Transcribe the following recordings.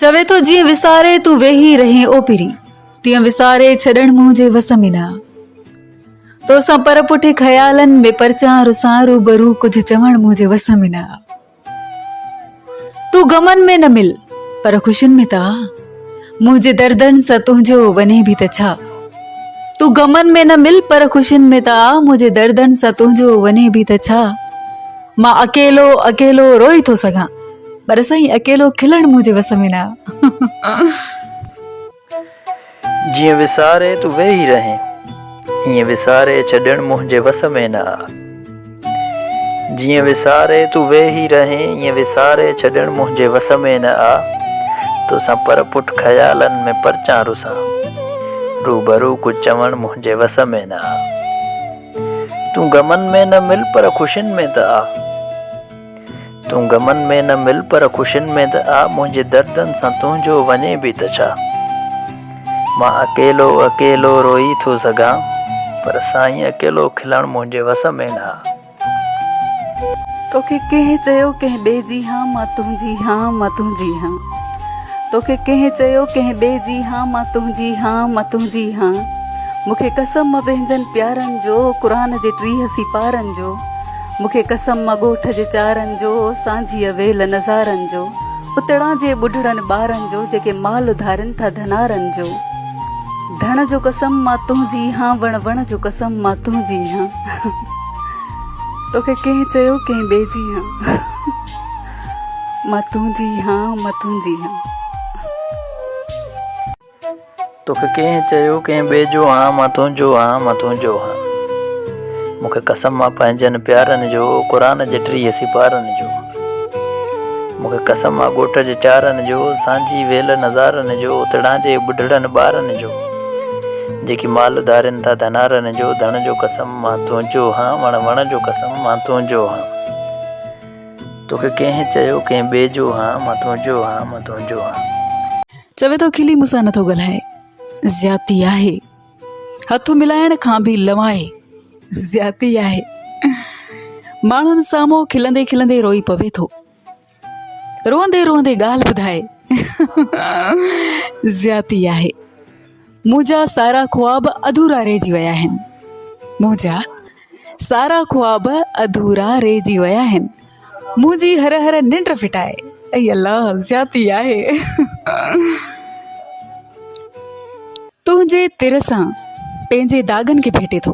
چوي ٿو جيئن وساري تون ويهي رهين اوپري تيئن وساري ڇڏڻ منهنجي وس ۾ نه تو سان پر پٺي خيالن ۾ پرچان رسان روبرو ڪجهه چوڻ منهنجي وس ۾ نه تون غمن ۾ نه مل پر خوشين ۾ ته منهنجي دردن سان تنهنجو وڃي به ته ڇا تون غمن ۾ نه مل پر خوشين ۾ ته آ منهنجي دردن سان تنهنجو وڃي به ته ڇا مان اڪيلو اڪيلو روئي ٿو سگهان پر سائين اڪيلو کلڻ منهنجي وس ۾ نه جيئن وساري تون ويهي رهين ائين وساري ڇڏڻ منهنجي وس ۾ نه جيئن وساري تون ويهي رهين ائين وساري ڇڏڻ منهنجي وس ۾ نه آ توسان پر پٺ خيالن ۾ پرچان رسان روبرو ڪجهه چوڻ منهنجي وس ۾ نه آ تون غمن ۾ نه مل پر خوشين ۾ ته آ. تون غمن ۾ نه مل پر خوشين ۾ ته آ منهنجي دردن سان تنهنجو وڃي به ته ڇا مان اڪيلو اڪيلو روئي ٿو سگهان پر سائين اڪيلو کلڻ منهنجي وس ۾ نه آ. توکي ڪنهن چيو ڪنهن ٻئي جي هان مان تنهنجي هان مان تنهنجي هان توکي ڪنهن چيو ڪنهن ٻئي جي هان مان تنهنجي هان مان تنهنجي هان مونکي قسم پنهنجن پيارن جو قرآن جي ٽيهه سيپارن جو. مون کي قسم آ ڳوٺ جي چارن جو، سانجهيء ويل نظارن جو، اتڙان جي ٻڍڙن ٻارن جو، جيڪي مال اڌارين ٿا ڌنارن جو. ڌڻ جو قسم مان تنهنجي هان، وڻ وڻ جو قسم مان تنهنجي هان. توکي ڪنهن چيو ڪنهن ٻئي جي هان. مان تنهنجي هان، مان تنهنجي هان. توکي ڪنهن چيو ڪنهن ٻئي جو هان مان تنهنجو هان مان تنهنجو هان مون کي قسم آ پنهنجن پيارن جو قرآن جي ٽيهه سيپارن جو مون کي قسم آ ڳوٺ جي چارن جو سانجهي ويل نظارن جو اتڙهانجي ٻڍڙن ٻارن جو جيڪي مال ڌارين ٿا ڌنارن جو ڌڻ جو قسم مان تنهنجو هان وڻ وڻ جو قسم مان تنهنجو هان توکي ڪنهن چيو ڪنهن ٻئي جو هان مان تنهنجو هان مان تنهنجو هان. چوي ٿو کلي مون سان نٿو ڳالهائي زيادتي آهي هٿ ملائڻ کان به لوائي زيادتي آهي ماڻهن سامهون کلندي کلندي روئي پوي ٿو روئندي روئندي ڳالهه ٻڌائي زيادتي آهي منهنجا سارا خواب اڌورا رهجي ويا آهن منهنجا سارا خواب اڌورا رهجي ويا آهن منهنجي هر هر ننڊ ڦٽائي اي الله زيادتي آهي تنهنجي تر سان پنهنجي داغن کي ڀيٽي ٿو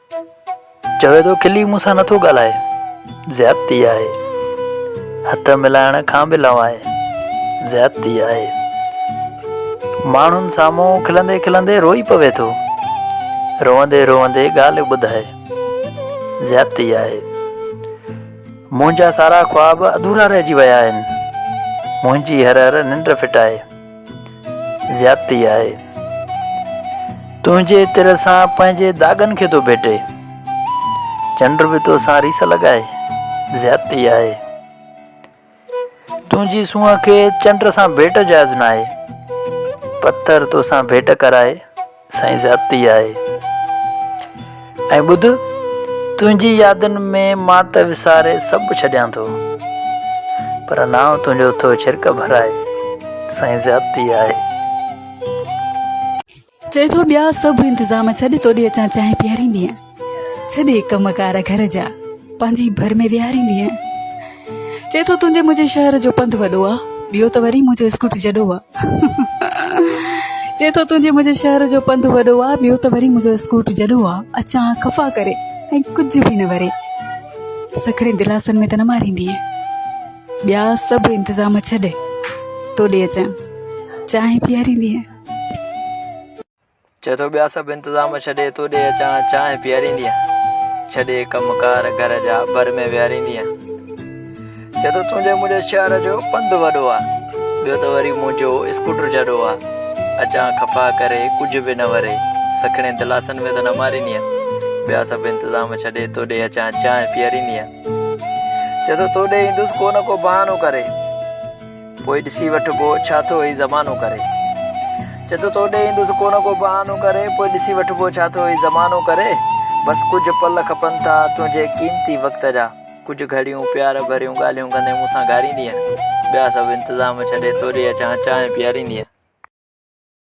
چوي ٿو کلي مون سان نٿو ڳالهائي زيادتي آهي هٿ ملائڻ کان به لوائي زيادتي آهي ماڻهن سامهون کلندي کلندي روئي پوي ٿو روئندي روئندي ڳالهه ٻڌائي زيادتي آهي منهنجا سارا خواب ادورا رهجي ويا آهن منهنجي هر هر ننڊ ڦٽائي زيادتي آهي. تنهنجي تر سان پنهنجي داغن کي ٿو ڀيٽي. چنڊ به تو سان ريس لڳائي. زيادتي آهي. تنهنجي سونهن کي چنڊ سان ڀيٽ جائز ناهي. پٿر تو سان ڀيٽ ڪرائي. سائين زيادتي آهي ۽ ٻڌ تنهنجي يادن ۾ مان ته وساري سڀ ڇڏيان ٿو پر نانء تنهنجو ٿو ڇرڪ ڀرائي سائين زيادتي آهي. چئي ٿو ٻيا سڀ انتظام ڇڏ توڏي اچان چانهه پياريندينء. سڄي ڪم ڪار گهر جا پنهنجي ڀر ۾ ويهاريندي آهيان چئي ٿو تنهنجي منهنجي شهر جو پنڌ وڏو آهي ٻيو ته وري منهنجو اسڪوٽ جڏو آ چئي ٿو تنهنجي منهنجي شهر جو پنڌ وڏو آ ٻيو ته وري منهنجو اسڪوٽ جڏو آ اچان خفا ڪري ۽ ڪجهه به نه وري سکڙي دلاسن ۾ ته نه ماريندي ٻيا سڀ انتظام ڇڏي توڏي اچان چانهه پياريندي چئي ٿو ٻيا سڀ انتظام ڇڏي تو ڏي اچان چانهه پياريندينء ڇڏي ڪم ڪار گهر جا ڀر ۾ وياريندينء چئي ٿو تنهنجي منهنجي شهر جو پنڌ وڏو آ ٻيو ته وري منهنجو اسڪوٽر جڏو آ اچان خفا ڪري ڪجهه به نه وري سکڻين دلاسن ۾ ته نه ماريندينء ٻيا سڀ انتظام ڇڏي تو ڏي اچان چانهه پياريندينء چئي ٿو تو ڏي ايندس ڪو نه ڪو بهانو ڪري پوء ڏسي وٺبو، ڇا ٿو هي زمانو ڪري. چئه ٿو تو ڏي ايندس ڪو نه ڪو بهانو ڪري. پوء ڏسي وٺبو، ڇا ٿو هي زمانو ڪري. بس ڪجهه پل کپن ٿا تنهنجي قيمتي وقت جا. ڪجهه گهڙيون پيار ڀريون ڳالهيون ڪندي مون سان گهاريندينء. ٻيا سڀ انتظام ڇڏي توڏي اچان چانهه پياريندينء.